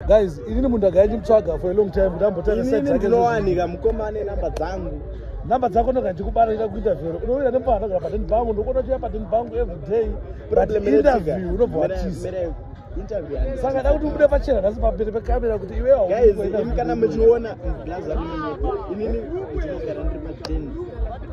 guys inini munhu ndagaya ndimutsvaga for a long time kuti ambotaininimunowanika mukomane namba dzangu namba dzako ndoga ndikubara ita kuita vhero unoenda nepaa ndogara paden bangu ndokona chiya paden bangu everyday interview unobva watiza saka da kuti ubude pachena nhasi pamberi pekamera kuti iweaukana muchiona blaza inini ndinogara ndiri paden